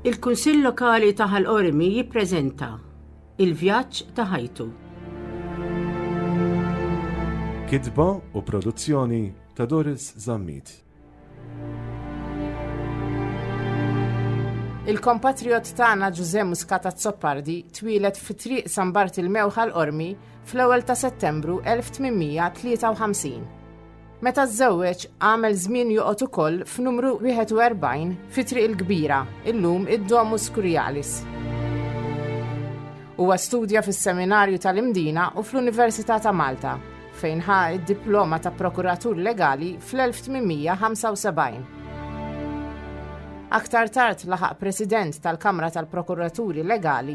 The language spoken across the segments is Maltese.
Il-Kunsill Lokali ta' Ħal Qormi jippreżenta Il-Vjaġġ ta' Ħajtu. Kitba u produzzjoni ta' Doris Zammit. Il-kompatriot tagħna Ġużè Muscata Zoppardi twieled fi triq San Bart il-Mewħa l-Qormi fl-ewwel ta' Settembru 1853. Meta żżewweġ għamel żmien joqgħod ukoll f'numru 41 fi Triq il-Kbira, illum id-Domus Curialis. Huwa studja fis-Seminarju tal-Imdina u fl-Università ta' Malta, fejn ħa id-diploma ta' prokuratur legali fl-1875. Aktar tard laħaq President tal-Kamra tal-Prokuraturi Legali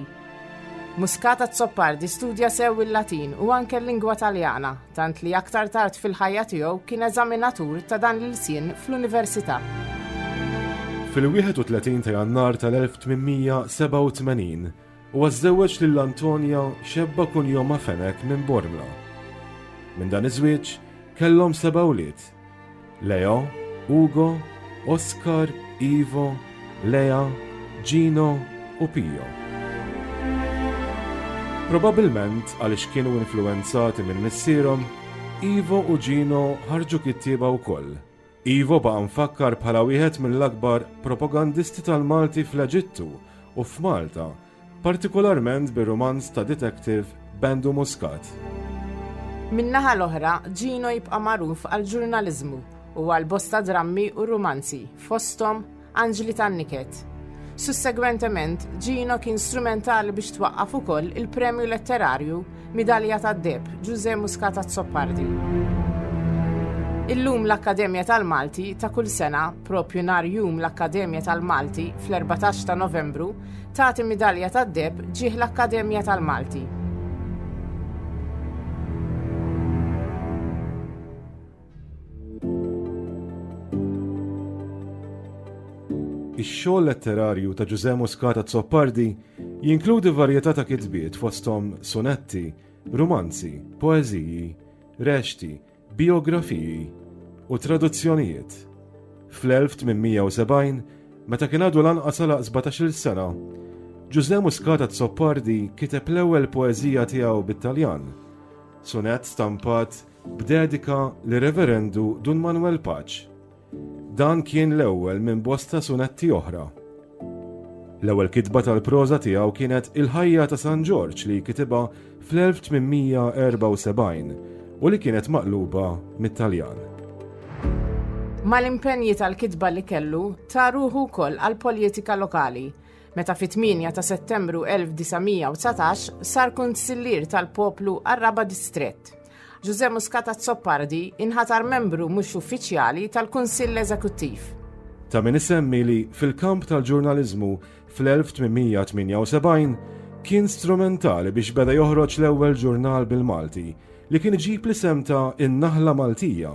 Muscat Azzopardi studja sew il-Latin u anke l-lingwa Taljana, tant li aktar tard fil-ħajja tiegħu kien eżaminatur ta' dan l-ilsien fl-Università. Fil-31 ta' Jannar tal-1887, huwa żżewweġ lil Antonia xebba kunjomha Fenech minn Bormla. Minn dan iż-żwieġ kellhom seba' wlied. Leo, Ugo, Oscar, Ivo, Lea, Gino u Pio. Probabbilment għaliex kienu influwenzati minn missierhom, Ivo u Gino ħarġu kittieba wkoll. Ivo baqa' mfakkar bħala wieħed mill-akbar propagandisti tal-Malti fl-Eġittu u f'Malta partikolarment bir-rumanz ta' detective Bendu Muscat. Min-naħa l-oħra, Gino jibqa' magħruf għall-ġurnaliżmu u għal bosta drammi u rumanzi, fosthom Anġli tan-Niket. Sussegwentement, Gino kien strumentali biex twaqqaf ukoll il-premju letterarju Midalja tad-Deheb, Ġużè Muscat Azzopardi. Illum l-Akkademja tal-Malti ta' kull sena, propju nhar Jum l-Akkademja tal-Malti fl-14 ta' Novembru, tagħti Midalja tad-Deheb ġieħ l-Akkademja tal-Malti. Ix-xogħol letterarju ta' Ġużè Muscat Azzopardi jinkludi varjetà ta' kitbiet fosthom sunetti, rumanzi, poeżiji, rexxti, bijografiji u traduzzjonijiet. Fl-1870, meta kien għadu lanqas għalaq sbatax-il sena, Ġużè Muscat Azzopardi kiteb l-ewwel poeżija tiegħu bit-Taljan, sunett stampat b'dedika lir-Reverendu Dun Manwel Paċ. Dan kien l-ewwel minn bosta sunetti oħra. L-ewwel kitba tal-proża tiegħu kienet Il-Ħajja ta' San Ġorġ li kitibha fl-1874 u li kienet maqluba mit-Taljan. Mal-impenji tal-kitba li kellu, ta ruħu wkoll għall-poljetika lokali. meta fit-8 ta' Settembru 1919 sar kunsillier tal-poplu għar-raba' distrett. Ġużè Muscat Azzopardi inħatar membru mhux uffiċjali tal-Kunsill Eżekuttiv. Ta' min isemmi li fil-kamp tal-ġurnaliżmu fl-1878 kien strumentali biex beda joħroġ l-ewwel ġurnal bil-Malti li kien iġib l-isem ta' In-Naħla Maltija.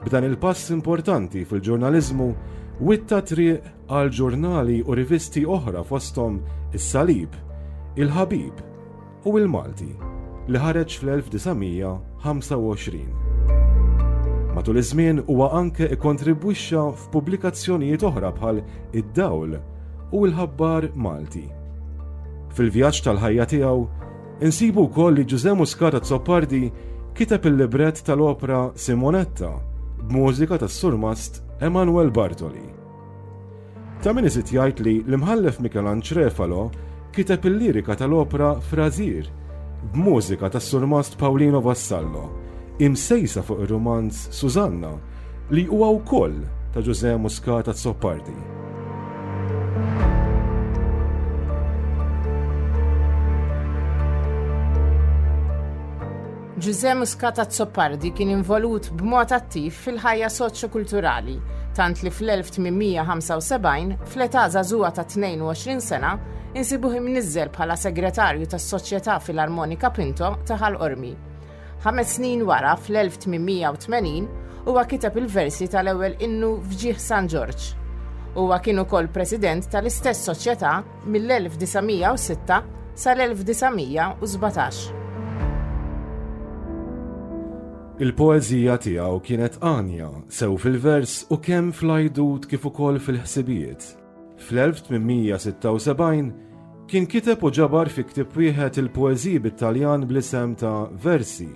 B'dan il-pass importanti fil-ġurnaliżmu, witta t-triq għal ġurnali u rivisti oħra fosthom Is-Salib, Il-Ħabib u Il-Malti li ħareġ fl-1925. Matul iż-żmien huwa anke ikkontribwixxa f'pubblikazzjonijiet oħra bħal Id-Dawl u Il-Ħabbar Malti. Fil-vjaġġ tal-ħajja tiegħu, Insibu wkoll li Ġużè Muscat Azzopardi kiteb il-librett tal-opra Simonetta b'mużika tas-surmast Emanuel Bartoli. Ta' min iżid jgħid li l-Imħallef Mikelanġ Refalo kiteb il-lirika tal-opra Frażir b'mużika tas-surmast Paulino Vassallo, imsejsa fuq ir-rumanz Susanna li huwa wkoll ta' Ġużè Muscat Azzopardi. Ġużè Muscat Azzopardi kien involut b'mod attiv fil-ħajja soċjo-kulturali, tant li fl-1875, fl-età żagħżugħa ta' 22 sena, insibuh imniżżel bħala segretarju tas-Soċjetà Filarmonika Pinto ta' Ħal Qormi. Ħames snin wara, fl-1880, huwa kiteb il-versi tal-ewwel innu f'ġieħ San Ġorġ. Huwa kien ukoll president tal-istess soċjetà mill-1906 sal-1917. Il-poeżija tiegħu kienet għanja, sew fil-vers u kemm fl-għajdut kif ukoll fil-ħsibijiet. Fl-1876 kien kiteb u ġabar fi ktieb wieħed il-poeżiji bit-Taljan bl-isem ta' Versi.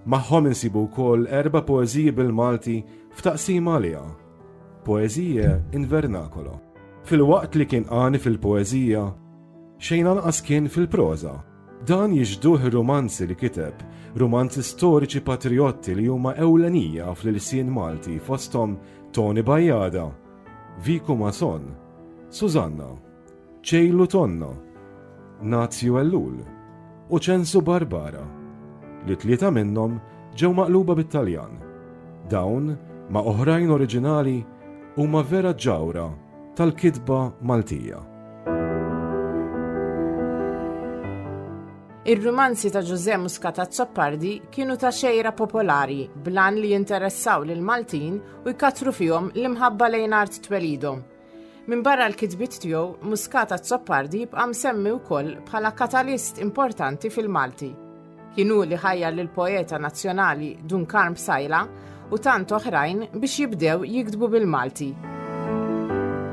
Magħhom insibu wkoll erba' poeżiji bil-Malti f'taqsima għaliha, Poesie in Vernacolo. Filwaqt li kien għani fil-poeżija, xejn anqas kien fil-proża. Dan jixhduh ir-rumanzi li kiteb, rumanzi storiċi patrijotti li huma ewlenija fl-ilsien Malti fosthom Toni Bajada, Vico Mason, Susanna, Ċejlu Tonna, Nazju Ellul u Ċensu Barbara, li tlieta minnhom ġew maqluba bit-Taljan. Dawn, ma' oħrajn oriġinali, huma vera ġawhra tal-kitba Maltija. Ir-rumanzi ta' Ġużè Muscat Azzopardi kienu ta' xejra popolari bl-għan li jinteressaw lill-Maltin u jkattru fihom l-imħabba lejn art twelidhom. Minbarra l-kitbiet tiegħu, Muscat Azzopardi jibqa' msemmi wkoll bħala katalist importanti fil-Malti. Kien hu li ħajjar lill-poeta nazzjonali Dun Karm Psaila u tant oħrajn biex jibdew jiktbu bil-Malti.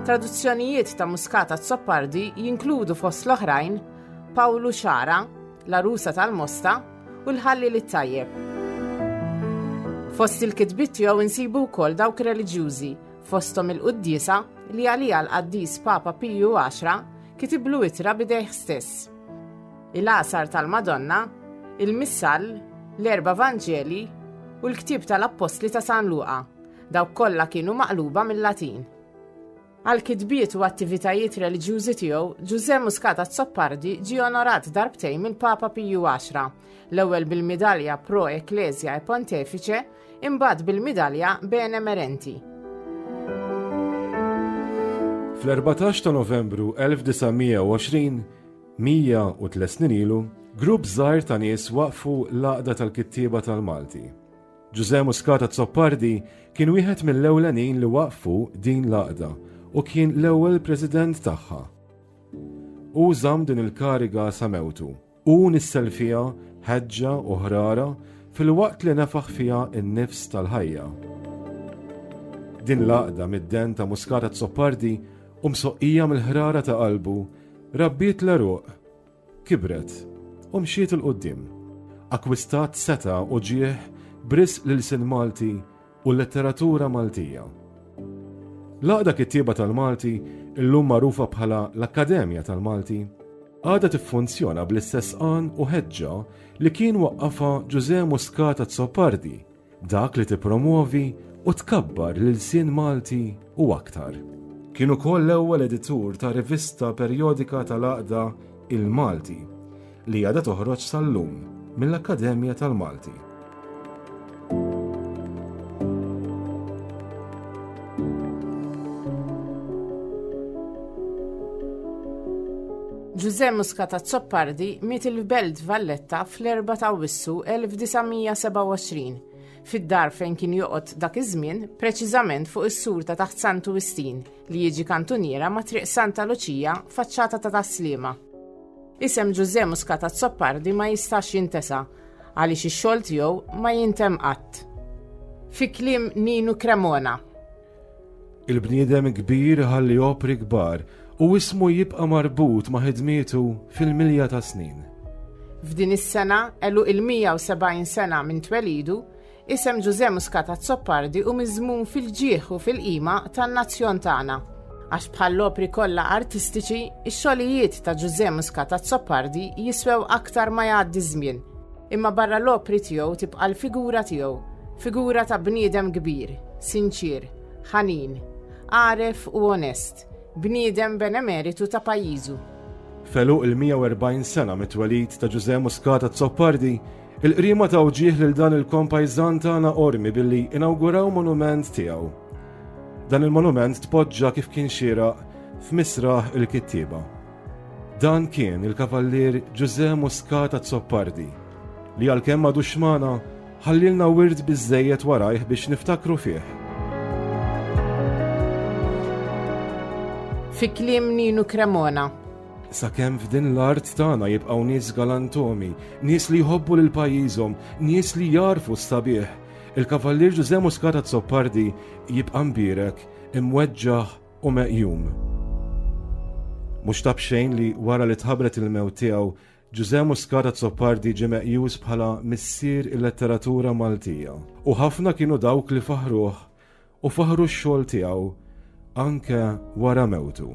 Traduzzjonijiet ta' Muscat Azzopardi jinkludu fost l-oħrajn Pawlu Xara, La Rusa tal-Mosta, u l-Ħalliel it-Tajjeb. Fost il-kitbiet tiegħu insibu wkoll dawk reliġjużi, fosthom il-quddiesa li għalija l-qaddis Papa Piju 10 kitiblu itra bidejh stess. Il-għasar tal-Madonna, il-Missal, l-erba' Vanġeli u l-ktieb tal-Appostli ta' San Luqa, dawk kollha kienu maqluba mill-Latin. Għal kitbiet u attivitajiet reliġjużi tiegħu, Ġużè Muscat Azzopardi ġie onorat darbtejn mill-Papa Piju Għaxra, l-ewwel bil-midalja Pro Ecclesia e Pontefice, imbagħad bil-midalja Bene Merenti. Fl-14 ta' Novembru 1920, 103 snin ilu, grupp żgħir ta' nies waqfu l-Għaqda tal-Kittieba tal-Malti. Ġużè Muscat Azzopardi kien wieħed mill-ewlenin li waqfu din l-għaqda u kien l-ewwel President tagħha. Hu żamm din il-kariga sa mewtu. Hu nissel fiha ħeġġa u ħrara filwaqt li nefaħ fiha n-nifs tal-ħajja. Din l-għaqda mid-den ta' Muscat Azzopardi u msoqqija mill-ħrara ta' qalbu rabbiet l-għeruq Kibret u mxiet 'il quddiem. Akkwistat setgħa u ġieħ b'risq l-ilsien Malti u l-letteratura Maltija. L-Għaqda Kittieba tal-Malti, illum magħrufa bħala l-Akkademja tal-Malti, għadha tiffunzjona bl-istess għan u ħeġġa li kien waqqafha Ġużè Muscat Azzopardi Dak li tippromwovi u tkabbar l-ilsien Malti u aktar. Kien ukoll l-ewwel editur ta' rivista perjodika tal-għaqda Il-Malti, li għadha toħroġ sal-lum mill-Akkademja tal-Malti. Ġużè Muscat Azzopardi miet il-Belt Valletta fl-4 ta' Wissu 1927 fid-dar fejn kien joqgħod dak iż-żmien, preċiżament fuq is-sur ta' taħt Santu Wistin li jiġi kantuniera ma' Triq Santa Luċija faċċata ta' Taslima. Isem Ġużè Muscat Azzopardi ma jistax jintesa għaliex ix-xogħol tiegħu ma jintemm qatt. Fi kliem Ninu Cremona, Il-bniedem kbir ħalli opri kbar u ismu jibqa' marbut ma' ħidmietu fil-milja ta' snin. F'din is-sena, għeluq il-170 sena minn twelidu, isem Ġużè Muscat Azzopardi hu miżmum fil-ġieħ u fil-qima tan-nazzjon tagħna. Għax bħall-opri kollha artistiċi, ix-xogħlijiet ta' Ġużè Muscat Azzopardi jiswew aktar ma jgħaddi ż-żmien. Imma barra l-opri tiegħu tibqa' l-figura tiegħu, figura ta' bniedem kbir, sinċier, ħanin, għaref u onest, bniedem benemeritu ta' pajjiżu. F'għeluq il-140 sena mit-twelid ta' Ġużè Muscat Azzopardi, il-Qriema ta' wġieh lil dan il-kompajżan tagħna Qormi billi inawguraw monument tiegħu. Dan il-monument tpoġġa kif kien xieraq f'misraħ il-kittieba. Dan kien il-Kavallier Ġużè Muscat Azzopardi li għalkemm m'għadux magħna, ħallielna wirt biżżejjed warajh biex niftakru fih. Fi kliem Ninu Cremona. Sakemm f'din l-art tagħna jibqgħu nies galantomi, nies li jħobbu lil pajjiżhom, nies li jarfu s-sabiħ, il-Kavallier Ġużè Muscat Azzopardi jibqa' mbierek, imweġġaħ, u meqjum. Mhux ta' b'xejn li wara li tħabbret il-mewt tiegħu, Ġużè Muscat Azzopardi ġie meqjus bħala missier il-letteratura Maltija u ħafna kienu dawk li faħħruh u faħħru x-xogħol tiegħu anke wara mewtu.